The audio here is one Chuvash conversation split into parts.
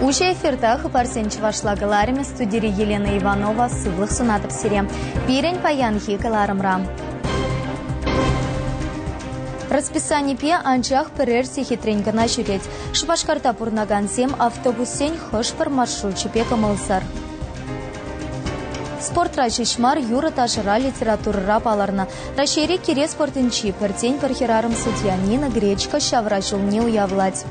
Уҫӑ эфирта хыпарсен чӑвашла каларӑмӗ студири Елена Иванова сывлӑх сунатӑп сире пирӗн паянхи кӑларӑмра. Расписанипе анчах пӗрер сехетрен кӑна ҫӳрет. Шупашкарта пурӑнакансем автобуссен хӑш-пӗр маршручӗпе кӑмӑлсӑр. Спортра ҫеҫ мар, юрӑ-ташӑра, литературӑра палӑрнӑ. Раҫҫейри кире спортӗнчи пӗртен-пӗр хӗрарӑм судья Нина Гречко ҫавра ҫулне уявлать.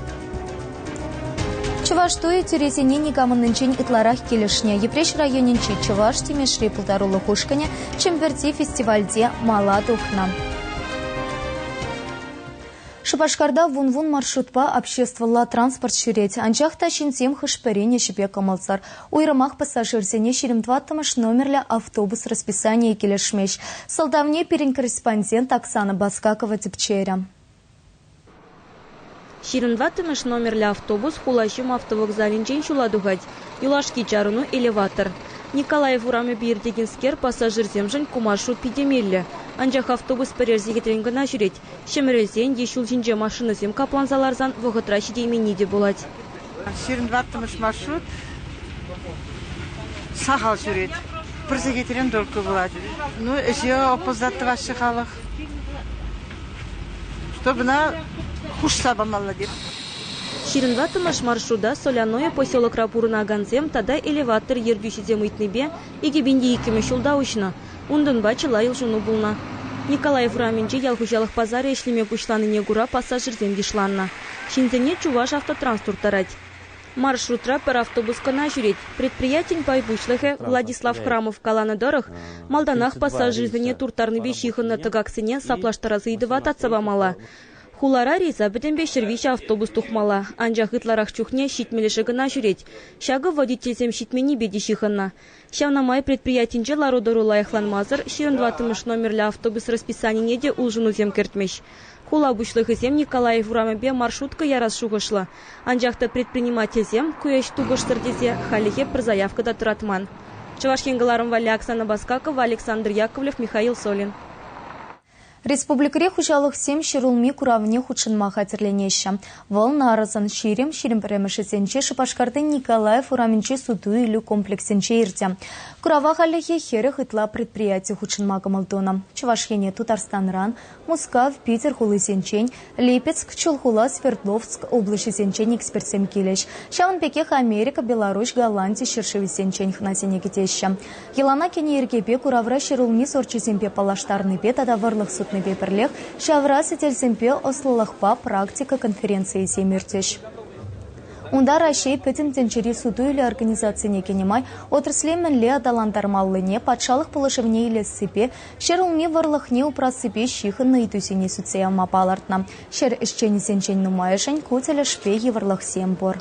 Чӑваш туйӗ тӳресене никамӑннинчен ытларах килӗшнӗ. Йӗпреҫ районӗнчи Чӑваш Тимешри пултарулӑх ушкӑнӗ Чӗмпӗрти фестивальте мала тухнӑ. Шупашкарта вун-вун маршрутпа обществӑлла транспорт ҫӳрет, анчах та ҫынсем хӑш-пӗрин ӗҫӗпе кӑмӑлсӑр. Уйрӑмах пассажирсене ҫирӗм тӑваттӑмӗш номерлӗ автобус расписанийӗ килӗшмест. Сӑлтавне пирӗн корреспондент Оксана Баскакова тӗпчерӗ. Ҫирӗм тӑваттӑмӗш номерлӗ автобус Хулаҫум автовокзалӗнчен ҫула тухать. Юлашки чарӑну элеватор. Николаев урамӗпе иртекенскер пассажирсемшӗн ку маршрут питӗ меллӗ, анчах автобус пӗрер сехетрен кӑна ҫӳрет. Ҫӗмӗрелсен е ҫул ҫинче машинӑсем капланса ларсан вӑхӑтра ҫитейменни те пулать. Сирӗн ваттӑмӗш маршрут сахал ҫӳрет. Пӗр сехетрен только пулать. Ну, ӗҫе опоздать тӑваҫҫӗ халӑх. Чтобы хушса памалла деп. Ҫирӗн ваттӑмӗш маршрута Соляное поселокра пурӑнакансем тата элеватор ертӳҫисем ыйтнипе икӗ пин те иккӗмӗш ҫулта уҫнӑ. Унтанпа чылай улшӑну пулнӑ. Николаев урамӗнче ял хуҫалӑх пасарӗ ӗҫлеме пуҫланине кура пассажирсем йышланнӑ. Ҫынсене Чуваш автотранс турттарать. Маршрутра пӗр автобус кӑна ҫӳрет. Предприятин пай пуҫлӑхӗ Владислав Храмов каланӑ тӑрӑх, малтанах пассажирсене турттарнипе ҫыхӑннӑ тӑкаксене саплаштарас ыйтӑва татса памалла. Хулара рейса пӗтӗмпе ҫӗр виҫӗ автобус тухмалла, анчах ытларах чухне ҫитмӗлӗшӗ кӑна ҫӳрет. Ҫакӑ водительсем ҫитменнипе те ҫыхӑннӑ. Ҫавна май предприятинче лару-тӑру лайӑхланмасӑр ҫирӗн тӑваттӑмӗш номерлӗ автобус расписанине те улшӑнусем кӗртмӗҫ. Хула пуҫлӑхӗсем Николаев урамӗпе маршрутка ярас шухӑшлӑ, анчах та предпринимательсем ку ӗҫ тупӑшсӑр тесе хальлӗхе пӗр заявка та тӑратман. Чӑваш Ен кӑларӑм валли Оксана Баскакова, Александр Яковлев, Михаил Солин. Республикӑри хуҫалӑхсем ҫӗрулми куравне хутшӑнма хатӗрленеҫҫӗ. Вӑл Нарӑсӑн Ҫирӗм ҫирӗм пӗрремӗшӗсенчи Шупашкарти Николаев урамӗнчи суту-илӳ комплексӗнче иртӗ. Курава хальлӗхе хӗрӗх ытла предприяти хутшӑнма кӑмӑл тунӑ. Чӑваш Ене Тутарстанран, Мускав, Питӗр хулисенчен, Липецк, Чулхула, Свердловск облаҫӗсенчен экспертсем килӗҫ. Ҫавӑн пекех Америка, Беларуҫ, Голланди ҫӗршывӗсенчен хӑнасене кӗтеҫҫӗ. Йӑлана кӗнӗ йӗркепе куравра ҫӗрулми сорчӗсемпе паллаштарнипе тата вӑрлӑх сутнипе пӗрлех ҫавра сӗтелсемпе ӑслӑлӑхпа практика конференцийӗсем иртӗҫ. Унта Раҫҫей Пӗтӗм тӗнчери суту-илӳ организацине кӗнӗ май отрасле мӗнле аталантармаллине, патшалӑх пулӑшӑвне илессипе, Ҫӗр улми вӑрлӑхне упрассипе ҫыхӑннӑ ыйтусене сӳтсе явма палӑртнӑ. Ҫӗр ӗҫченӗсенчен нумайӑшӗн ку тӗлӗшпе йывӑрлӑхсем пур.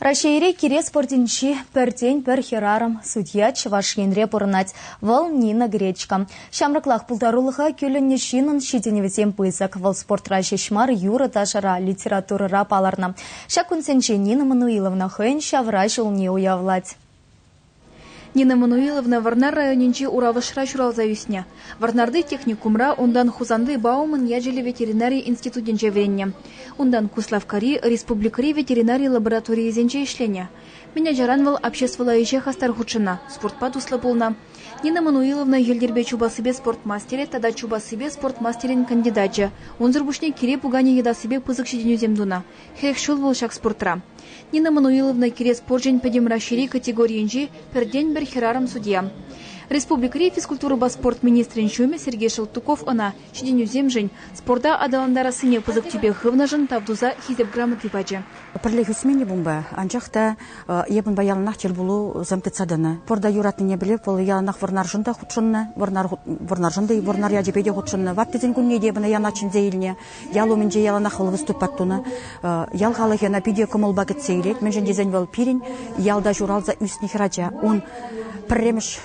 Раҫҫейри кире спортӗнчи пӗртен-пӗр хӗрарӑм, судья Чӑваш Енре пурӑнать. Вӑл Нина Гречка. Ҫамрӑклах пултарулӑха кӳлӗннӗ ҫынӑн ҫитӗнӗвӗсем пысӑк. Вӑл спортра ҫеҫ мар, юрӑ-ташӑра, литературӑра палӑрнӑ. Ҫак кунсенче Нина Мануиловна хӑйӗн ҫавраҫӑ умне уявлать. Нина Мануиловна Вӑрнар районӗнчи Уравӑшра ҫуралса ӳснӗ. Вӑрнарти техникумра, унтан Хусанти Бауман ячӗллӗ ветеринари институтӗнче вӗреннӗ. Унтан Куславккари республикӑри ветеринари лабораторийӗсенче ӗҫленӗ. Мӗн ачаран вӑл обществӑлла ӗҫе хастар хутшӑннӑ, спортпа туслӑ пулнӑ. Нина Мануиловна йӗлтӗрпе чупассипе спорт мастерӗ тата чупассипе спорт мастерӗн кандидачӗ. Унсӑр пуҫне кире пуканӗ йӑтассипе пысӑк ҫитӗнӳсем тунӑ. Хӗх ҫул вӑл ҫак спортра. Нина Мануиловна кирек спорчӗн пӗтӗм Раҫҫейри категорийӗнчи пӗртен-пӗр хӗрарӑм судья. Республикӑри физкультурӑпа спорт министрӗн ҫумӗ Сергей Шелтуков ӑна ҫитӗнӳсемшӗн, спорта аталантарассине пысӑк тӳпе хывнӑшӑн тав туса Хисеп грамоти пачӗ. Пӗрлех ӳсмен-и унпа? Анчах та эп унпа яланах тӗл пулусем тытса тӑнӑ. Спорта юратнине пӗлеп, вӑл яланах Вӑрнаршӑн та хутшӑннӑ, Вӑрнаршӑн та Вӑрнар ячӗпе те хутшӑннӑ. Ваттисен кунне те эп ӑна янах чӗнсе илнӗ. Ял умӗнче яланах вӑл выступат тунӑ. Ял халӑхӗ ӑна питӗ кӑмӑлпа кӗтсе илет, мӗншӗн тесен вӑл пирӗн ялта ҫуралса ӳснӗ хӗрача. Ун пӗрремӗш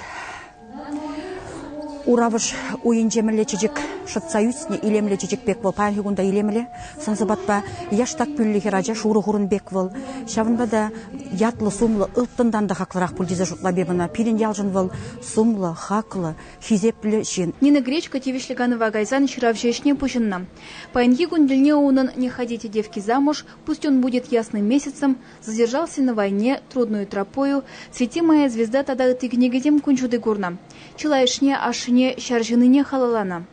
Уравӑш уйӗнче мӗнле чечек шӑтса ӳснӗ, илемлӗ чечек пек вӑл, паянхи кун та илемле. Сӑн-сӑпатпа яштак пӳллӗ хӗрача, шурӑ хурӑн пек вӑл. Ҫавӑнпа та ятлӑ-сумлӑ, ылтӑнтан та хаклӑрах пуль тесе шутлап эп ӑна. Пирӗн ялшӑн вӑл сумлӑ, хаклӑ, хисеплӗ ҫын. Нина Гречко тивӗҫлӗ канӑва кайсан ҫыравҫӑ ӗҫне пуҫӑннӑ. Паянхи кун тӗлне унӑн Не ходите, девки, замуж, пусть он будет ясным месяцем, Задержал сына войне, Трудную тропою, Цвети моя звезда тата ытти кӗнекесем кун ҫути курнӑ. Чылайӑшне ашшӗне ҫар ҫыныне халалланӑ.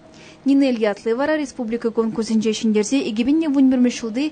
Нинель ятлӑ вара республика конкурсӗнче ҫӗнтерсе 2021 ҫулти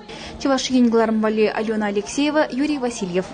Чӑваш Ен кӑларӑм валли Алена Алексеева, Юрий Васильев.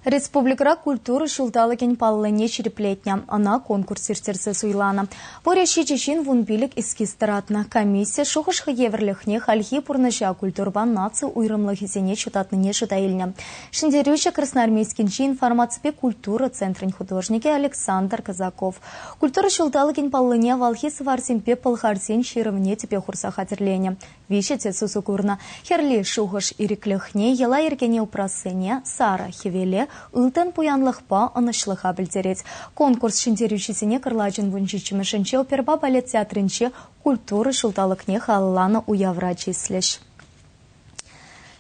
Республикӑра культура ҫулталӑкӗн паллине ҫирӗплетнӗ. Ӑна конкурс ирттерсе суйланӑ. Пурӗ ҫичӗ ҫын вун пилӗк эскиз тӑратнӑ. Комисси шухӑш евӗрлӗхне хальхи пурнӑҫа культурӑпа наци уйрӑмлӑхӗсене ҫутатнине шута илнӗ. Ҫӗнтерӳҫӗ Красноармейскинчи информаципе культура центрӗн художникӗ Александр Казаков, Культура ҫулталӑкӗн паллине авалхи сӑварсемпе пӑлхарсен ҫырӑвне тӗпе хурса хатӗрленӗ. Виҫӗ те сусу курнӑ. Хӗрли шухӑш ирӗклӗхне, йӑла-йӗркене упрассине, сарӑ, хӗвеле, ылтӑн пуянлӑхпа ӑнӑҫлӑха пӗлтерет. Конкурс ҫӗнтерӳҫисене кӑрлачӑн вун ҫиччӗмӗшӗнче оперӑпа балет театрӗнче культура ҫулталӑкне халалланӑ уявра чыслӗҫ.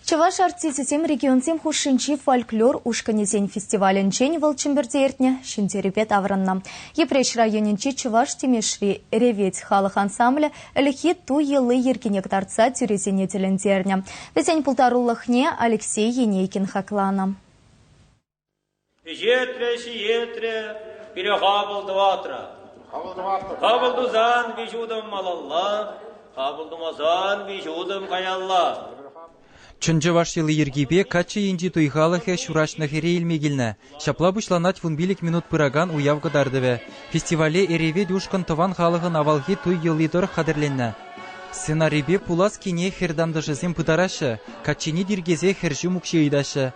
Чӑваш артисчӗсем регионсем хушшинчи фольклор ушкӑнӗсен фестивалӗнчен вӑл Чӗмпӗрте иртнӗ Ҫӗнтерӳпе таврӑннӑ. Йӗпреҫ районӗнчи Чӑваш Тимешри Реветь халӑх ансамблӗ ӗлӗкхи ту йӑли-йӗркине кӑтартса тӳресене тӗлӗнтернӗ. Вӗсен пултарулӑхне Алексей Енейкин хакланӑ. Пӗҫетрӗ, ҫиетрӗ, пире хапӑл тӑватрӗ. Хапӑл тусан виҫ утӑм малалла, хапӑл тумасан виҫ утӑм каялла. Чӑн чӑваш йӑли-йӗркипе каччӑ енчи туй халӑхӗ ҫураҫнӑхӗре илме килнӗ. Ҫапла пуҫланать вун пилӗк минут пыракан уяв кӑтартӑвӗ. Фестивале Эревет ушкӑн тӑван халӑхӑн авалхи туй йӑли тӑрӑх хатӗрленнӗ. Сценарипе пулас кине хӗр тантӑшӗсем пытараҫҫӗ, каччине тиркесе хӗр ҫум укҫи ыйтаҫҫӗ.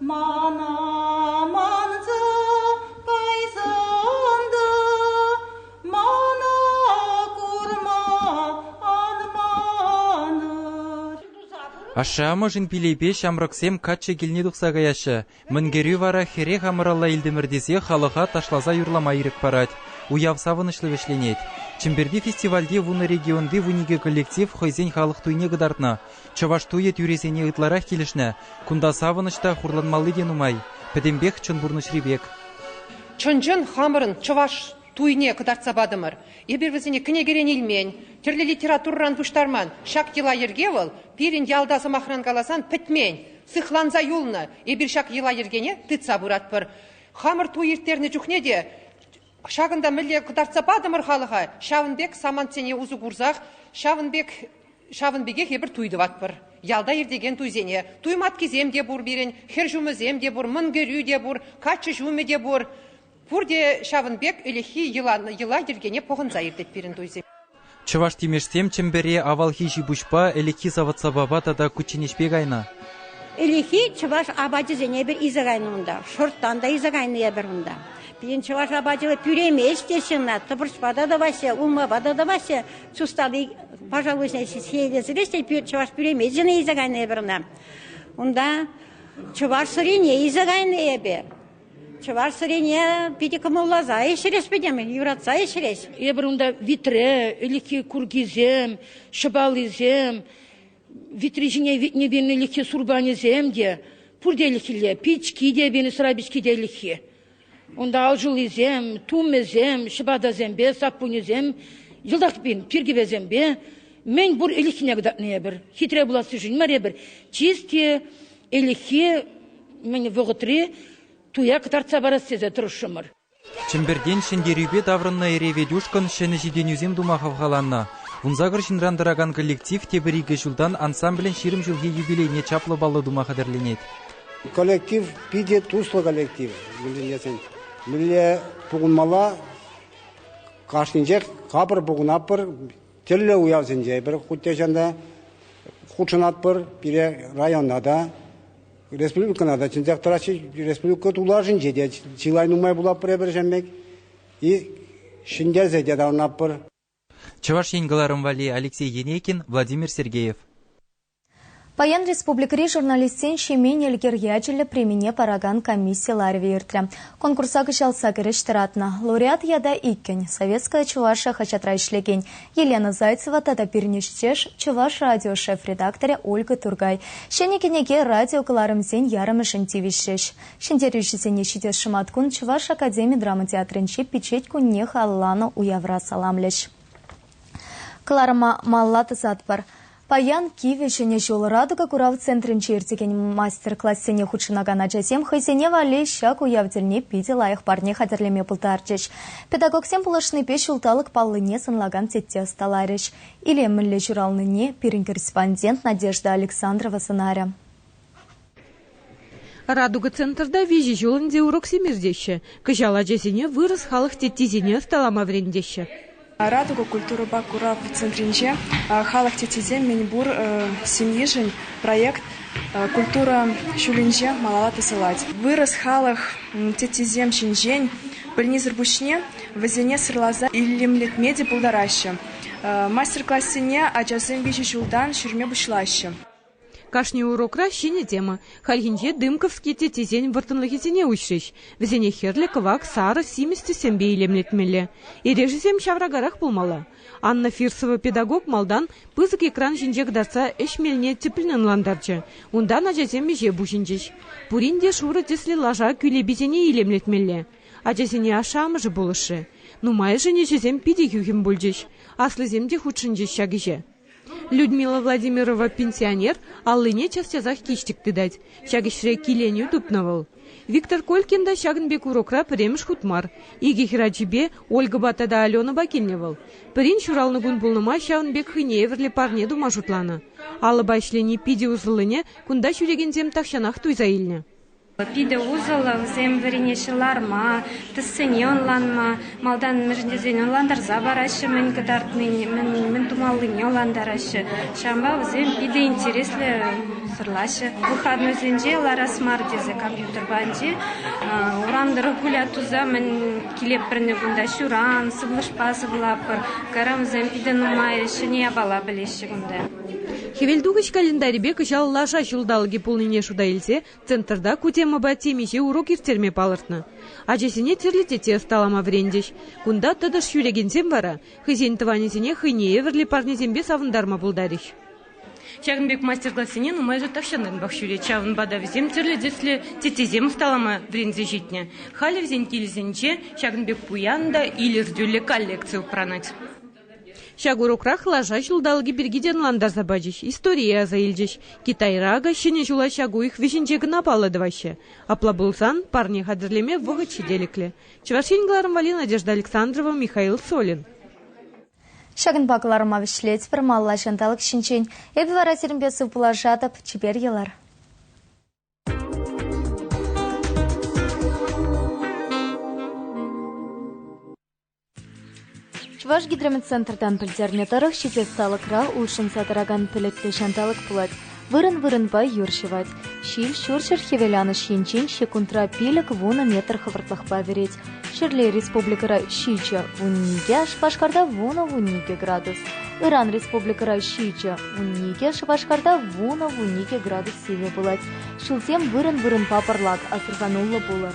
Мана манса кайсан та мана курма анманӑр. Ашшӗ-амӑшӗн пилӗпе ҫамрӑксем каччӑ килне тухса каяҫҫӗ. Мӗн кӗрӳ вара хӗрех амӑралла илтӗмӗр тесе халӑха ташласа юрлама ирӗк парать. Уяв савӑнӑҫлӑ вӗҫленет. Чӗмпӗрти фестивальте вунӑ регионти вун икӗ коллектив хӑйсен халӑх туйне кӑтартнӑ. Чӑваш туйӗ тӳресене ытларах килӗшнӗ. Кунта савӑнӑҫ та хурланмалли те нумай. Пӗтӗмпех чӑн пурнӑҫри пек. Чӑн-чӑн хамӑрӑн чӑваш туйне кӑтартса патӑмӑр. Эпир вӗсене кӗнекерен илмен, тӗрлӗ литературӑран пуҫтарман. Ҫак йӑла-йӗрке вӑл, пирӗн ялта, сӑмахран каласан, пӗтмен. Сыхланса юлнӑ. Эпир ҫак йӑла-йӗркене тытса пыратпӑр. Хамӑр туй ирттернӗ чухне те Ҫакӑнта мӗнле кӑтартса патӑмӑр халӑха, ҫавӑн пек самантсене усӑ курсах, ҫавӑн пек ҫавӑн пекех эпир туй тӑватпӑр. Ялта иртекен туйсене туй маткисем те пур пирӗн, хӗр ҫумӗсем те пур, мӑн кӗрӳ те пур, каччӑ ҫумӗ те пур. Пурте ҫавӑн пек ӗлӗкхи йӑла-йӑла йӗркене пӑхӑнса иртет пирӗн туйсем. Чӑваш тимешсем Чӗмпӗре авалхи ҫипуҫпа, ӗлӗкхи савӑт-сапапа тата кучченеҫпе кайнӑ. Ӗлӗкхи чӑваш апачӗсене эпир илсе кайнӑ унта. Шӑрттан та илсе кайнӑ эпир унта. Пирӗн чӑваш апачӗ пӳремест теҫҫӗ ӑна. Тӑпӑрчпа та тӑваҫҫӗ, улмапа та тӑваҫҫӗ. Сустали, пожалуйста, ҫиелесрех те чӑваш пӳремечӗне илсе кайнӑ эпир ӑна. Унта чӑваш сӑрине илсе кайнӑ эпир. Чӑваш сӑрине питӗ кӑмӑлласа ӗҫрӗҫ пӗтӗм, юратса ӗҫрӗҫ. Эпир унта витре, ӗлӗкхи куркисем, ҫӑпалисем, витри ҫине витнӗ пин ӗлӗкхи сурпанӗсем те, пурте ӗлӗкхилле, пички те, бенесра пички те ӗлӗкхи. Унта алшуллисем, тумӗсем, ҫӑпатасемпе, саппунӗсем, йӑлтах пин пиркӗвесемпе мӗн пур ӗлӗкхине кӑтартнӑ эпир. Хитре пулассишӗн мар эпир, чисти ӗлӗкхи Мӗн вӑхӑтри туя кӑтартса парас тесе тӑрӑшрӑмӑр. Чӗмпӗртен ҫӗнтерӳпе таврӑннӑ эре Ведюшкӑн ҫӗнӗ ҫитӗнӳсем тума хавхаланнӑ. Вунсакӑр ҫынран тӑракан коллектив тепӗр икӗ ҫултан ансамблӗн ҫирӗм ҫулхи юбилейне чаплӑ паллӑ тума хатӗрленет. Коллектив питӗ туслӑ коллектив мӗнле-тесен. Мӗнле пухӑнмалла кашнинчех капӑр пухӑнатпӑр. Тӗрлӗ уявсенче эпир хуть те чӑн та хутшӑнатпӑр пире районта та. Республикӑна та чӑнчах тӑраҫҫӗ. Республика тулашӗнче те чылай нумай пулатпӑр эпир ҫеммек. И ҫӗнтерсе те таврӑнатпӑр. Чӑваш Ен кӑларӑм валли Алексей Енейкин, Владимир Сергеев. Паян республикӑри журналистсен Ҫемен Элкер ячӗллӗ премине паракан комисси ларӑвӗ иртрӗ. Конкурса кӑҫал сакӑр ӗҫ тӑратнӑ, лауреат ята иккӗн, Советская Чуваша хаҫатра ӗҫлекен, Елена Зайцева тата пирӗн ӗҫтеш, Чӑваш радио шеф редакторӗ Ольга Туркай ҫӗнӗ кӗнеке радиокӑларӑмсен ярӑмӗшӗн тивӗҫрӗҫ. Ҫӗнтерӳҫӗсене ҫитес шӑматкун Чӑваш академи драма театрӗнчи пичет кунне халалланӑ уявра саламлӗҫ. Кӑларӑма малла тӑсатпӑр. Паян Кивӗ Ҫӗнӗ ҫул Радуга курав центрӗнче иртекен мастер-классене хутшӑнакан ачасем хӑйсене валли ҫак уяв тӗлне питӗ лайӑх парне хатӗрлеме пултарчӗҫ. Педагогсем пулӑшнипе ҫулталӑк паллине сӑнлакан тетте ӑсталарӗҫ. Илемлӗ ҫуралнине пирӗн корреспондент Надежда Александрова сӑнарӗ. Радуга центрта виҫӗ ҫул ӗнтӗ уроксем иртеҫҫӗ. Кӑҫал ачасене вырӑс халӑх теттисене ӑсталама вӗрентеҫҫӗ. Радуга культурӑпа курав центрӗнче халӑх теттисем мӗн пур семьешӗн проект культура ҫулӗнче малалла тӑсӑлать. Вырӑс халӑх теттисем ҫинчен пӗлнисӗр пуҫне вӗсене сӑрласа илемлетме те пултараҫҫӗ. Мастер-классене ачасем виҫӗ ҫултан ҫӳреме пуҫлаҫҫӗ. Кашни урокра ҫӗнӗ тема. Хальхинче Дымковский теттесен вӑрттӑнлӑхӗсене уҫрӗҫ. Вӗсене хӗрлӗ, кӑвак, сарӑ, симӗс тӗссемпе илемлетмелле. Эрешӗсем ҫавракарах пулмалла. Анна Фирсова педагог малтан пысӑк экран ҫинче кӑтартса ӗҫ мелне тӗплӗн ӑнлантарчӗ. Унтан ачасем ӗҫе пуҫӑнчӗҫ. Пурин те шурӑ тӗслӗ лаша кӳлеписене илемлетмелле. Ачасене ашшӗ-амӑшӗ пулӑшрӗ. Нумайӑшӗн ӗҫӗсем питӗ хӳхӗм пулчӗҫ. Аслисем те хутшӑнчӗҫ ҫак ӗҫе. Людмила Владимирова пенсионер аллине час-часах киҫтӗк тытать. Ҫак ӗҫре киленӳ тупнӑ вӑл. Виктор Колькин та ҫакӑн пек урокра пӗрремӗш хут мар. Икӗ хӗрачипе, Ольгӑпа тата Аленӑпа килнӗ вӑл. Пӗрин ҫуралнӑ кун пулнӑ май ҫавӑн пек хӑйне евӗрлӗ парне тума шутланӑ. Алӑпа ӗҫлени питӗ усӑллине кунта ҫӳрекенсем тахҫанах туйса илнӗ. Питӗ усӑллӑ вӗсем вӗренеҫҫӗ ларма, тӗссене ӑнланма, малтан мӗншӗн тесен ӑнлантарса параҫҫӗ мӗн кӑтартнине, мӗн тумаллине ӑнлантараҫҫӗ. Ҫавӑнпа вӗсем питӗ интереслӗ сӑрлаҫҫӗ. Выхатнӑйсенче ларас мар тесе компьютер панчи урам тӑрӑх гулять туса мӗн килепӗрнӗ кунта ҫуран, сывлӑшпа сывлатпӑр. Кайран вӗсем питӗ нумай ҫӗнӗ япала пӗлеҫҫӗ кунта. Хӗвелтухӑҫ календарӗпе кӑҫал лаша ҫулталӑкӗ пулнине шута илсе Центрта ку темӑпа темиҫе урок ирттерме палӑртнӑ. Ачасене тӗрлӗ тете ӑсталама вӗрентӗҫ. Кунта тӑтӑш ҫӳрекенсем вара хӑйсен тӑванӗсене хӑйне евӗрлӗ парнесемпе савӑнтарма пултарӗҫ. Ҫакӑн пек мастер-классене нумайӑшӗ тахҫантанпах ҫӳрет, ҫавӑнпа та вӗсем тӗрлӗ тӗслӗ теттесем ӑсталама вӗренсе ҫитнӗ. Халӗ вӗсен килӗсенче ҫакӑн пек пуян та илӗртӳллӗ коллекци упранать. Ҫак урокрах лаша ҫулталӑкӗ пирки те ӑнлантарса пачӗҫ, историе аса илчӗҫ. Китайра акӑ Ҫӗнӗ ҫула ҫак уйӑх вӗҫӗнче кӑна паллӑ тӑваҫҫӗ. Апла пулсан, парне хатӗрлеме вӑхӑт ҫителӗклӗ. Чӑваш Ен кӑларӑм валли Надежда Александрова, Михаил Солин. Ҫакӑнпа кӑларӑма вӗҫлетпӗр малла ҫанталӑк ҫинчен. Эпӗ вара сирӗнпе сывпуллашатӑп. Чипер йӑлар. Чӑваш гидрометцентртан пӗлтернӗ тӑрӑх, ҫитес талӑкра улшӑнса тӑракан пӗлӗтлӗ ҫанталӑк пулать. Вырӑн-вырӑнпа юр ҫӑвать. Ҫил ҫурҫӗр-хӗвеланӑҫ енчен ҫеккунтра пилӗк-вунӑ метр хӑвӑртлӑхпа вӗрет. Ҫӗрле республикӑра ҫичӗ, вунникӗ, Шупашкарта вунӑ-вунникӗ градус, ыран республикӑра ҫичӗ, вунникӗ, Шупашкарта вунӑ-вунникӗ градус сивӗ пулать. Ҫулсем вырӑн-вырӑнпа пӑрлак, асӑрхануллӑ пулӑр.